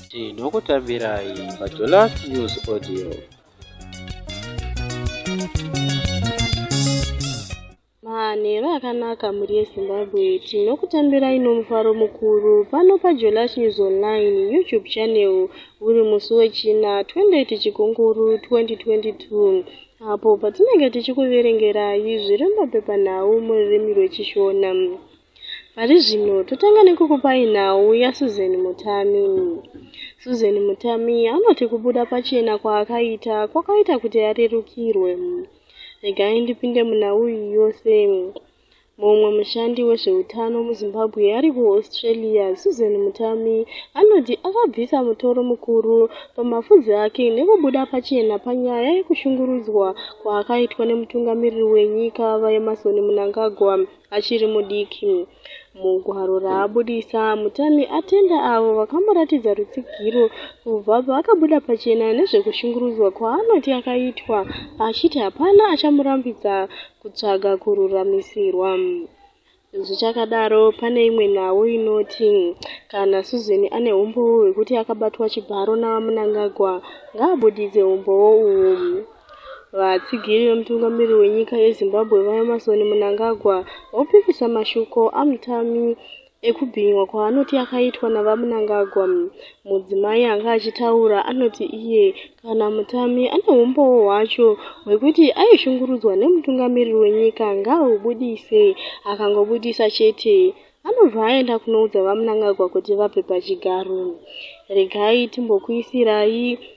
tinokutambirai pajolas news audio manheru akanaka mhuri yezimbabwe tinokutambirai nomufaro mukuru pano pajolas news online youtube channel uri musi wechina 28 chikunguru 2022 Apo patinenge tichikuverengerai zviri mumapepanhau mururimi rweChishona. Pari zvino totanga nekukupai nhau yaSusan Mutami. Susan Mutami anoti kubuda pachena kwaakaita kwakaita kuti arerukirwe. Regai ndipinde munhau iyi yose. Mumwe mushandi wezveutano muZimbabwe ari kuAustralia, Susan Mutami, anoti akabvisa mutoro mukuru pamafudzi ake nekubuda pachena panyaya yekushungurudzwa kwaakaitwa nemutungamiriri wenyika VaEmmerson Mnangagwa achiri mudiki. Mugwaro raabudisa, Mutami atenda avo vakamuratidza rutsigiro kubva paakabuda pachena nezvekushungurudzwa kwaanoti akaitwa achiti hapana achamurambidza kutsvaga kururamisirwa. Zvichakadaro, pane imwe nhau inoti kana Susan ane umbowo hwekuti akabatwa chibharo naVaMnangagwa, ngaabuditse umbowo uhu. Vatsigiri vemutungamiriri wenyika yeZimbabwe, VaEmmerson Mnangagwa, vopikisa mashoko aMutami ekubhinywa kwaanoti akaitwa naVaMnangagwa. Mudzimai anga achitaura anoti iye kana mutami ane humbowo hwacho hwekuti aishungurudzwa nemutungamiriri wenyika ngaahubudise, akangobudisa chete anobva aenda kunoudza VaMnangagwa kuti vape pachigaro. Regai timbokuisirai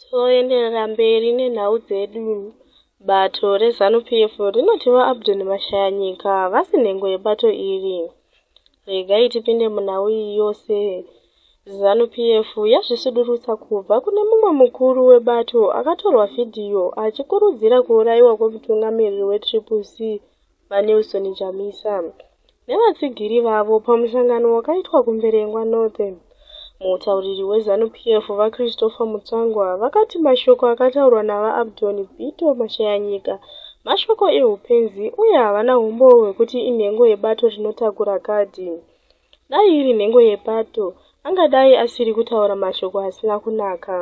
Toenderera mberi nenhau dzedu. Bato reZanu PF rinoti VaAbdon Mashayanyika havasi nhengo yebato iri. Regai tipinde munhau iyi yose. Zanu PF yazvisudurutsa kubva kune mumwe mukuru webato akatorwa vhidhiyo achikurudzira kuurayiwa kwemutungamiriri weTriple C, VaNelson Chamisa nevatsigiri vavo pamusangano wakaitwa kuMberengwa North. Mutauriri weZanu PF, VaChristopher Mutsvangwa, vakati mashoko akataurwa naVaAbdon Bito Mashayanyika mashoko ehupenzi uye havana humbowo hwekuti inhengo yebato rinotakura kadhi. Dai iri nhengo yepato, angadai asiri kutaura mashoko asina kunaka.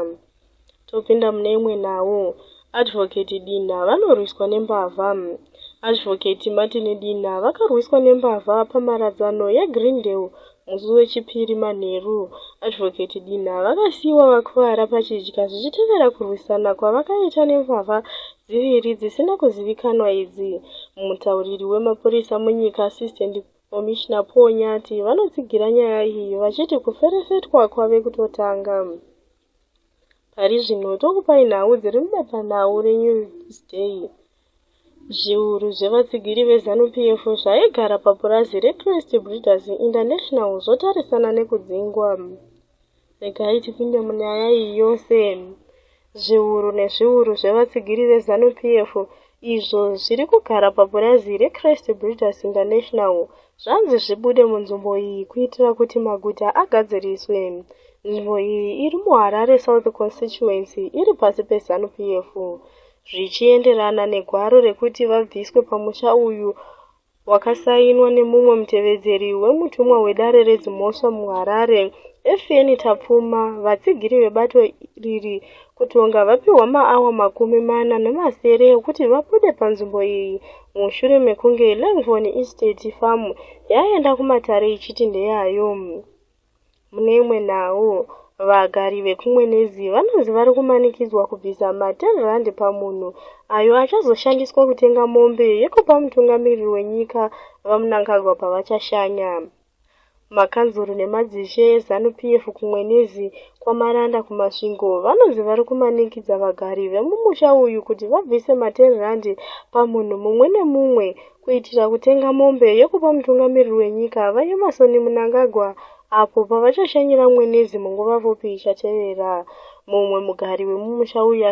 Topinda mune imwe nhau. Advocate Dinha vanorwiswa nembavha. Advocate Martin Dinha vakarwiswa nembavha pamharadzano yeGreendale musi weChipiri manheru. Advocate Dinha vakasiyiwa vakuvara pachidya zvichitevera kurwisana kwavakaita nembavha dziviri dzisina kuzivikanwa idzi. Mutauriri wemapurisa munyika, Assistant Komishina Paul Nyati vanotsigira nyaya iyi vachiti kuferefetwa kwave kutotanga. Pari zvino tokupai nhau dziri mubepanhau reNewsday. Zviuru zvevatsigiri veZanu-PF zvaigara papurazi reCrest Breeders International zvotarisana nekudzingwa. Regai tipinde munyaya iyi yose. Zviuru nezviuru zvevatsigiri veZanu PF izvo zviri kugara papurazi reChrist Breeders International zvanzi zvibude munzvimbo iyi kuitira kuti maguta agadziriswe. Nzvimbo iyi iri muHarare South Constituency iri pasi peZanu PF zvichienderana negwaro rekuti vabviswe pamusha uyu wakasainwa nemumwe mutevedzeri wemutumwa wedare redzimhosva muharare efeni tapfuma vatsigiri vebato riri kutonga vapihwa maawa makumi mana nemasere ekuti vabude panzvimbo iyi mushure mekunge langvon estate farm yaenda kumatare ichiti ndeyayo Mune imwe nhau, vagari vekuMwenezi vanonzi vari kumanikidzwa kubvisa ma10 pamunhu ayo achazoshandiswa kutenga mombe yekupa mutungamiriri wenyika VaMnangagwa pavachashanya. Makanzuru nemadzishe eZanu PF kuMwenezi, kwaMaranda kuMasvingo vanonzi vari kumanikidza vagari vemumusha uyu kuti vabvise ma10 pamunhu mumwe nemumwe kuitira kutenga mombe yekupa mutungamiriri wenyika VaEmmerson Mnangagwa apo pavachashanyira mwenezi munguva pfupi ichatevera. Mumwe mugari wemumusha uyu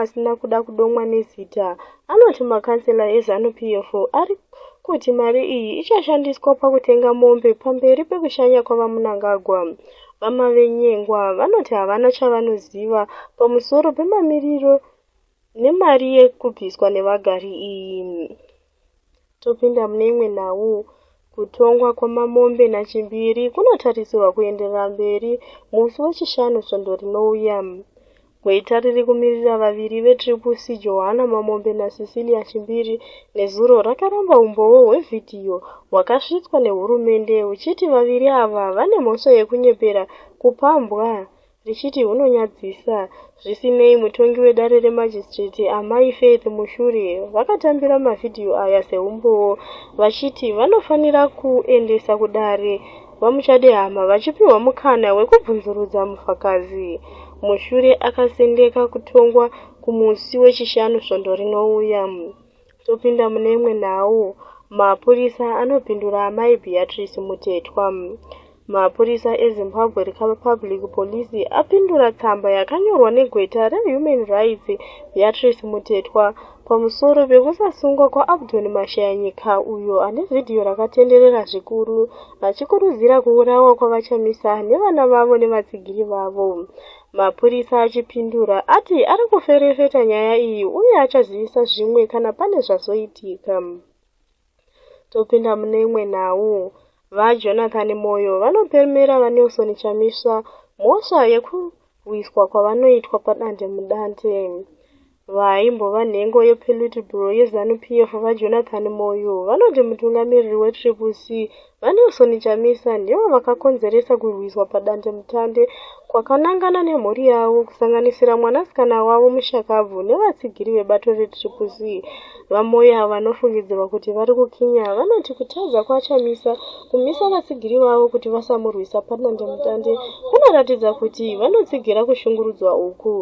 asina kuda kudomwa nezita anoti makansela eZanu PF ari kuti mari iyi ichashandiswa pakutenga mombe pamberi pekushanya kwavaMnangagwa. VaMavenyengwa vanoti havana chavanoziva pamusoro pemamiriro Nemari yekubviswa nevagari iyi, topinda mune imwe nhau. Kutongwa kwaMamombe naChimbiri kunotarisirwa kuenderera mberi musi weChishanu svondo rinouya. Gweta riri kumirira vaviri veTriple C Johanna Mamombe naCecilia Chimbiri nezuro rakaramba umbowo hwevhidhiyo hwakasvitswa nehurumende huchiti vaviri ava vane mhosva yekunyepera kupambwa richiti hunonyadzisa. Zvisinei, mutongi wedare remajistrate, Amai Faith Mushure, vakatambira mavhidhiyo aya seumbowo vachiti vanofanira kuendesa kudare VaMuchadehama vachipiwa mukana wekubvunzurudza mufakazi. Mushure akasendeka kutongwa kumusi weChishanu svondo rinouya. Topinda mune imwe nhau. Mapurisa anopindura Amai Beatrice Mutetwa. Mapurisa eZimbabwe Recovery Public Police apindura tsamba yakanyorwa negweta reHuman Rights Beatrice Mutetwa pamusoro pekusasungwa kwaAbdon Mashayanyika uyo ane vhidhiyo rakatenderera zvikuru achikurudzira kuurawa kwaVaChamisa nevana vavo nevatsigiri vavo. Mapurisa achipindura ati ari kuferefeta nyaya iyi uye achazivisa zvimwe kana pane zvazoitika. Topinda mune imwe nhau. VaJonathan Moyo vanopemera VaNelson Chamisa mhosva yekurwiswa kwavanoitwa padandemudande. Vaimbova nhengo yePolitburo yeZanu-PF VaJonathan Moyo vanoti mutungamiriri weTriple C, VaNelson Chamisa, ndivo vakakonzeresa kurwiswa padandemutande kwakanangana nemhuri yavo kusanganisira mwanasikana wavo mushakabvu nevatsigiri vebato reTriple C. VaMoyo avo vanofungidzirwa kuti vari kukinya vanoti kutadza kwaChamisa kumisa vatsigiri vavo kuti vasamurwisa padandemutande kunoratidza kuti vanotsigira kushungurudzwa uku.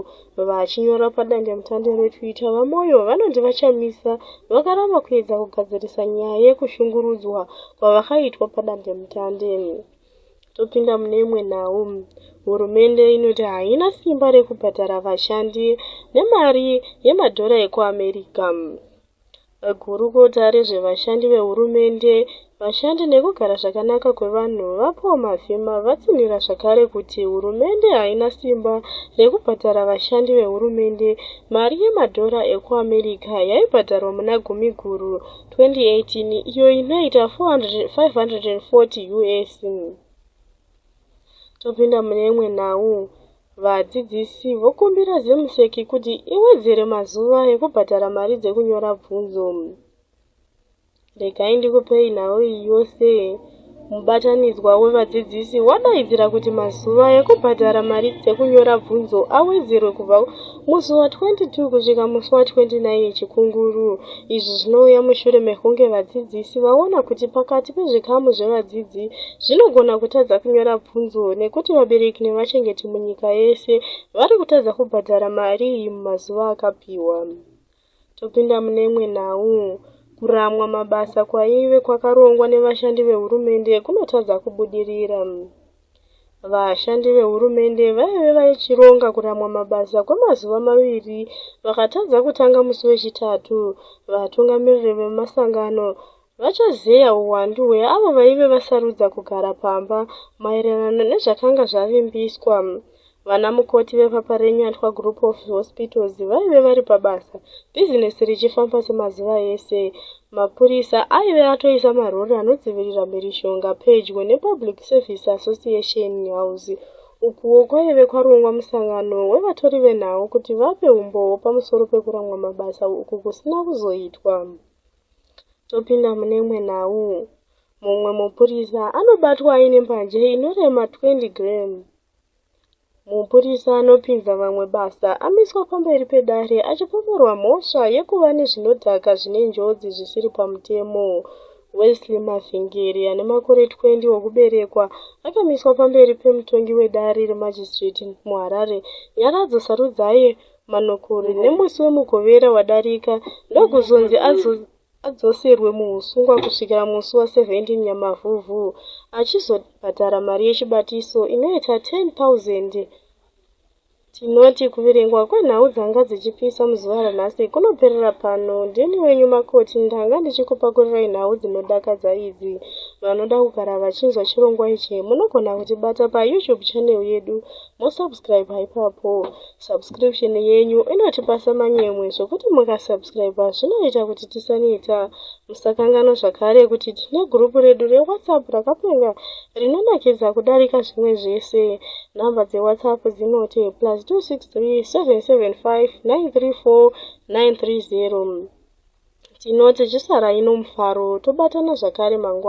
Vachinyora padandemutande reTwitter, VaMoyo vanonzi VaChamisa vakaramba kuedza kugadzirisa nyaya yekushungurudzwa kwavakaitwa padandemutande. Topinda mune imwe nhau. Hurumende inoti haina simba rekubhadhara vashandi nemari yemadhora ekuAmerica. Gurukota rezvevashandi vehurumende, vashandi nekugara zvakanaka kwevanhu, VaPaul Mavhima, vatsinhira zvakare kuti hurumende haina simba rekubhadhara vashandi vehurumende mari yemadhora ekuAmerica yaibhadharwa muna Gumiguru 2018 iyo inoita 540 US. Topinda mune imwe nhau. Vadzidzisi vokumbira ZimSec kuti iwedzere mazuva ekubhadhara mari dzekunyora bvunzo. Regai ndikupei nhau iyi yose. Mubatanidzwa wevadzidzisi wadaidzira kuti mazuva ekubhadhara mari dzekunyora bvunzo awedzerwe kubva Musi wa 22 kusvika musi wa 29 yeChikunguru. Izvi zvinouya mushure mekunge vadzidzisi vaona kuti pakati pezvikamu zvevadzidzi zvinogona kutadza kunyora bvunzo nekuti vabereki nevachengeti munyika yese vari kutadza kubhadhara mari iyi mumazuva akapiwa. Topinda mune imwe nhau. Kuramwa mabasa kwaive kwakarongwa nevashandi vehurumende kunotadza kubudirira. Vashandi vehurumende vaive vachironga kuramwa mabasa kwemazuva maviri vakatadza kutanga musi weChitatu. Vatungamiriri vemasangano Vachazeya uwandu hweavo vaive vasarudza kugara pamba maererano nezvakanga zvavimbiswa. Vana mukoti vepapa reNyatwa Group of Hospitals vaive vari pabasa, bhizinesi richifamba semazuva ese. Mapurisa aive atoisa marori anodzivirira mhirizhonga pedyo nePublic Service Association House ukuwo kwaive kwarongwa musangano wevatori venhau kuti vape umbowo pamusoro pekuramwa mabasa uku kusina kuzoitwa. Topinda mune imwe nhau. Mumwe mupurisa anobatwa aine mbanje inorema 20 gram. Mupurisa anopinza vamwe basa amiswa pamberi pedare achipomorwa mhosva yekuva nezvinodhaka zvine njodzi zvisiri pamutemo. Wesley Mavhengeri ane makore 20 okuberekwa akamiswa pamberi pemutongi wedare remajistrate muHarare, Nyaradzo Sarudzai, Manokuri nemusi weMugovera wadarika ndokuzonzi adzoserwe muhusungwa kusvikira musi wa 17 Nyamavhuvhu achizobhadhara mari yechibatiso inoita 10,000. Tinoti kuverengwa kwenhau dzanga dzichipisa muzuva ranhasi kunoperera pano. Ndini wenyu Makoti ndanga ndichikupakurirai nhau dzinodakadza idzi. Vanoda kugara vachinzwa chirongwa ichi munogona kutibata paYouTube channel yedu mosubscribe ipapo subscription yenyu inotipasa manyemwe zvokuti mukasubscribe zvinoita kuti tisaneta musakangano zvakare kuti tine gurupu redu rewhatsapp rakapenga rinonakidza kudarika zvimwe zvese nhamba dzewhatsapp dzinoti plus 263 775 934 930 tinoti zvisarai nomufaro tobatana zvakare mangwana